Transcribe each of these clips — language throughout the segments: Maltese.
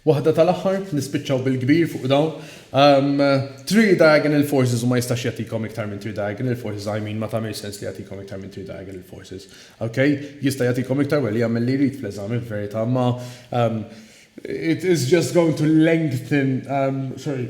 Waħda tal-aħħar, nispiċċaw bil-kbir fuq dawn. Three diagonal forces u ma jistax jagħtikom iktar minn three diagonal forces, I mean ma tagħmilx sens li jagħtikom iktar minn three diagonal forces. Ok? Jista' jagħtikom iktar well jagħmel li jrid fl-eżami f'verità, ma it is just going to lengthen, sorry,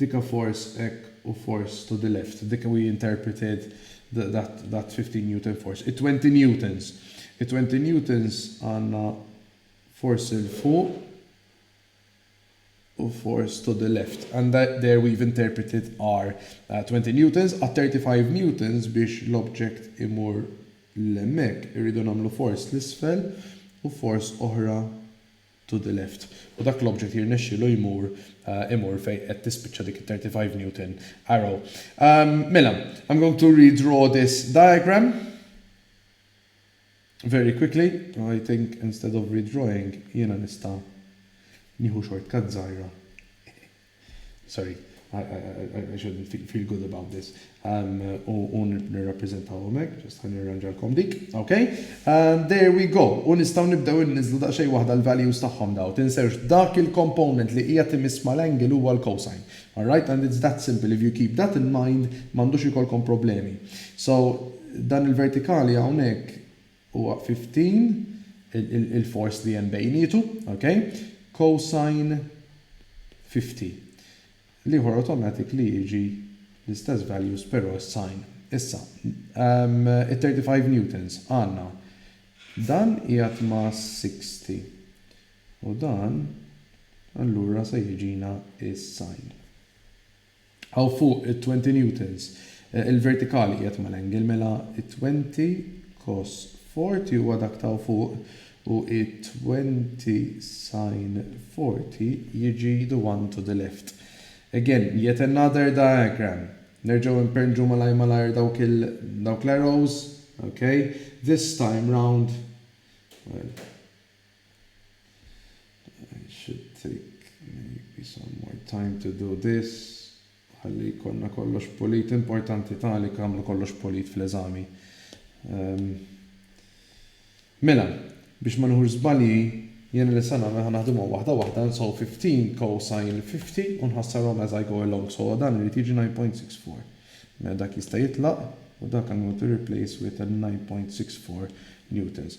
Dik a force hekk u force to the left. Dik we interpreted that fifteen newton force. It-twenty newtons. It-twenty newtons għandna force 'l fuq u force to the left. And there we've interpreted our twenty newtons. Għat-thirty five newtons biex l-object imur 'l hemmhekk irridu nagħmlu force 'l isfel u force oħra to the left, u dak l-object jirnexxielu jmur imur fejn qed tispiċċa dik it-35 Newton arrow. Mela, I'm going to redraw this diagram very quickly, I think instead of redrawing jiena nista' nieħu shortcut żgħira. sorry, I should feel good about this, u nirrappreżentaw hawnhekk, just ħa nirranġalkom dik, ok? There we go, u nistgħu nibdew inniżżlu daqsxejn waħda l-values tagħhom daw, tinsewx dak il-component li qiegħed imiss mal-angle huwa l-cosine, alright? And it's that simple, if you keep that in mind m'għandux ikollkom problemi. So, dan il-vertikali hawnhekk huwa 15 il-force li hemm bejnietu, ok, cosine 50. L-ieħor automatic li jiġi l-istess values però s-sign. Issa, it-35 newtons għandna dan qiegħed ma' 60 u dan allura se jiġina s-sign. Hawn fuq it-twenty newtons, il-vertikali qiegħed mal-angle, mela t-twenty cos forty huwa dak ta' hawn fuq u t-twenty sin forty jiġi the one to the left. Again, yet another diagram. Nerġgħu imperrnġu malajr malajr dawk il, dawk l-arrows, okay? This time round, well, I should take maybe some more time to do this. Ħalli jkollna kollox pulit. Importanti tali kamru kollox pulit fl-eżami. Mela, biex ma nieħux żbalji, jiena li se nagħmel ħa naħdimhom waħda waħda, nsow 15 cosine 50 u nħassarhom as I go along. So dan irid jiġi 9.64. Mela dak jista' jitlaq u dak għandu jkun replaced with a 9.64 newtons.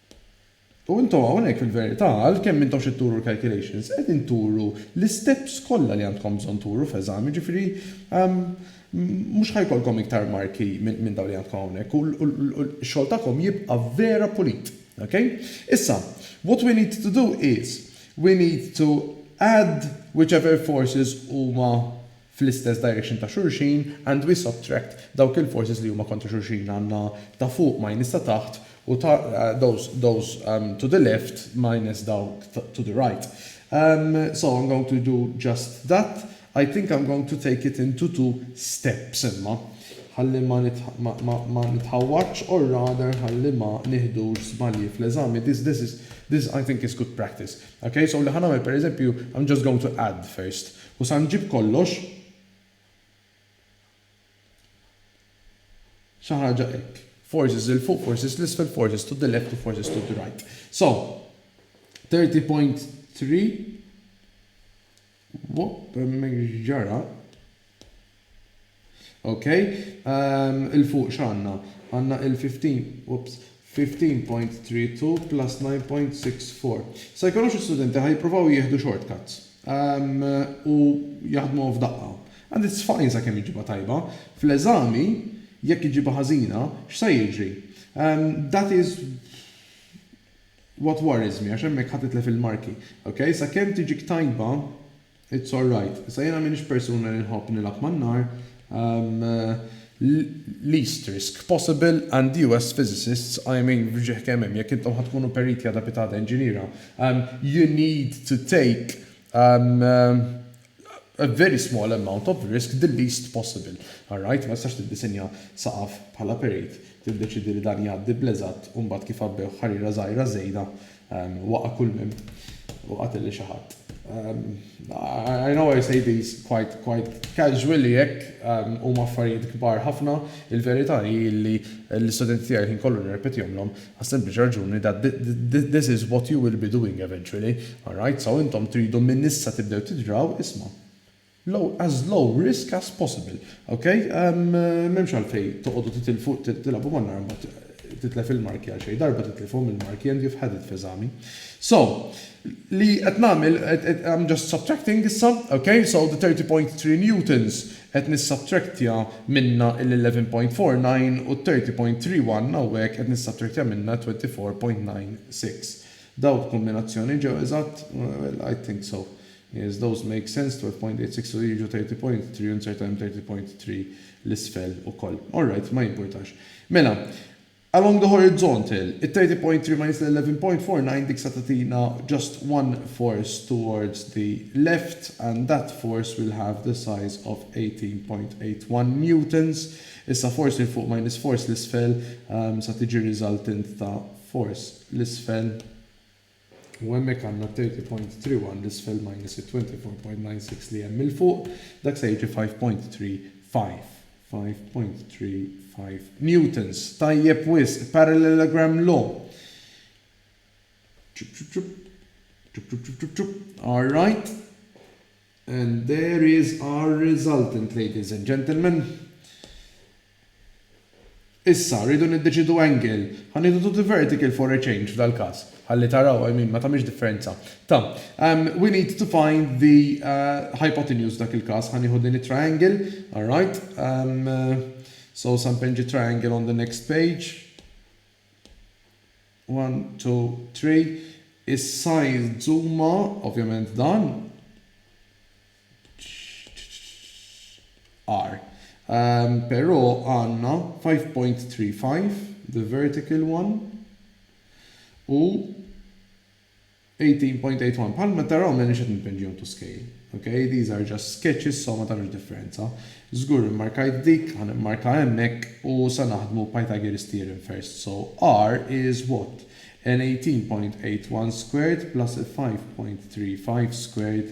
U intom hawnhekk fil-verità, għalkemm intom x'qed turu l-calculations, qegħdin turu l-isteps kollha li għandkom bżonn turu f'eżami, jiġifieri mhux ħa jkollkom iktar marki minn dawn li għandkom hawnhekk u x-xogħol tagħkom jibqa' vera pulit. Ok? Issa, what we need to do is, we need to add whichever forces huma fl-istess direction ta' xulxin and we subtract dawk il-forces li huma kontra xulxin, għandna ta' fuq minus ta' taħt u ta' those those to the left minus dawk to the right. So I'm going to do just that, I think I'm going to take it into two steps imma, ħalli ma ma nitħawwadx or rather ħalli ma nieħdux żbalji fl-eżami, this this is this I think is good practice. Ok, so li ħa nagħmel pereżempju, I'm just going to add first U sa nġib kollox, xi ħaġa hekk. Forces 'il fuq, forces 'l isfel, forces to the left u forces to the right. So, 30.3 Boh, hemmhekk x'ġara? Ok, 'il fuq x'għandna? Għandna il 15, oops, 15.32 plus 9.64. Sa jkollhom xi studenti ħa jippruvaw jieħdu short cuts u jaħdmuhom f'daqqa. And it's fine sakemm iġġibha tajba. Fl-eżami, jekk iġġibha ħażina, x'sa jiġri? That is what worries me għax hemmhekk ħa titlef il-marki. Ok, sakemm tiġik tajba. It's alright. Issa jiena m'iniex persuna li nħobb nilgħab man-nar. Least risk possible and you as physicists, I mean fġieħ kemm hemm, jekk intom ħa tkunu periti ad abitada inġiniera, you need to take a very small amount of risk, the least possible. Alright? Ma tistax tiddisinja saqaf bħala perit, tiddeċiedi li dan jgħaddi bl-eżatt u mbagħad kif għabbewh ħariera żgħira żejda Waqa' kull minn u qatel lil xi ħadd. I know I say these quite quite casually hekk, huma affarijiet kbar ħafna, il-verità hi li l-istudenti tiegħi l-ħin kollu nirrepetihomlhom għas-sempliċi raġuni that this is what you will be doing eventually, alright, so intom tridu minn issa tibdew tidraw, isma'. low as low risk as possible ok mhemmx għalfejn toqogħdu titilfu tilgħabu man-nar mbagħad titlef il-marki għal xejn darba titlifhom il-marki and you've had it f'eżami so li qed nagħmel I'm just subtracting issa ok so the 30.3 newtons qed nissubtractja minnha l-11.49 u t-30.31 hawnhekk qed nissubtractja minnha t-24.96 dawk kombinazzjoni ġew eżatt? well I think so Yes those make sense, 12.86 u jiġu 30.3 u insert għalihom 30.3 'l isfel ukoll. All right, ma jimpurtax. Mela, along the horizontal, it-30.3 minus l-11.49 dik se tagħtina just one force towards the left and that force will have the size of 18.81 newtons. Issa force 'il fuq minus force 'l isfel se tiġi resultant ta' force 'l isfel. U hemmhekk għandna thirty point three one 'l isfel minus it-twenty four point nine six li hemm 'il fuq, dak se jiġi five point three five. Five point three five newtons. Tajjeb wisq, parallelogram law. Ċup ċup ċup. Ċup ċup ċup ċup ċup. All right. And there is our resultant, ladies and gentlemen. Issa, rridu niddeċiedu angle. Ħa nieħdu to the vertical for a change f'dal-każ. Ħalli taraw, I mean, ma tagħmilx differenza. Ta, um, we need to find the uh, hypotenuse dak il-każ. Ħa nieħu din it-triangle, all right? Um, uh, so, sampenġi triangle on the next page. One, two, three, Is-size zuma, ovvjament dan, are. Però għandna five point three five, the vertical one, u 18.81 Bħalma taraw m'għedniex qed nimpinġihom to scale. Ok, these are just sketches so ma tagħmilx differenza. Żgur immarkajt dik, ħa nimmarka hemmhekk u se naħdmu Pythagoras theorem first. So R is what? N 18.81 squared plus 5.35 squared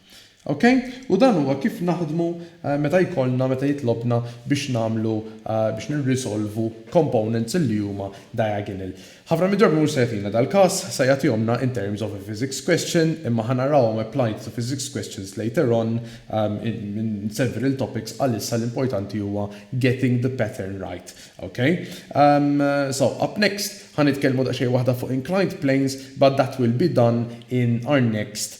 Ok? U dan huwa kif naħdmu meta jkollna, meta jitlobna biex nagħmlu, biex nirrisolvu components li huma diagonal. Ħafna mid-drabi mhux se jagħtina dal-każ, se jagħtihomna in terms of a physics question, imma ħa narawhom applied to physics questions later on in several topics, għalissa l-importanti huwa getting the pattern right. Ok? So, up next, ħa nitkellmu daqsxejn waħda fuq inclined planes, but that will be done in our next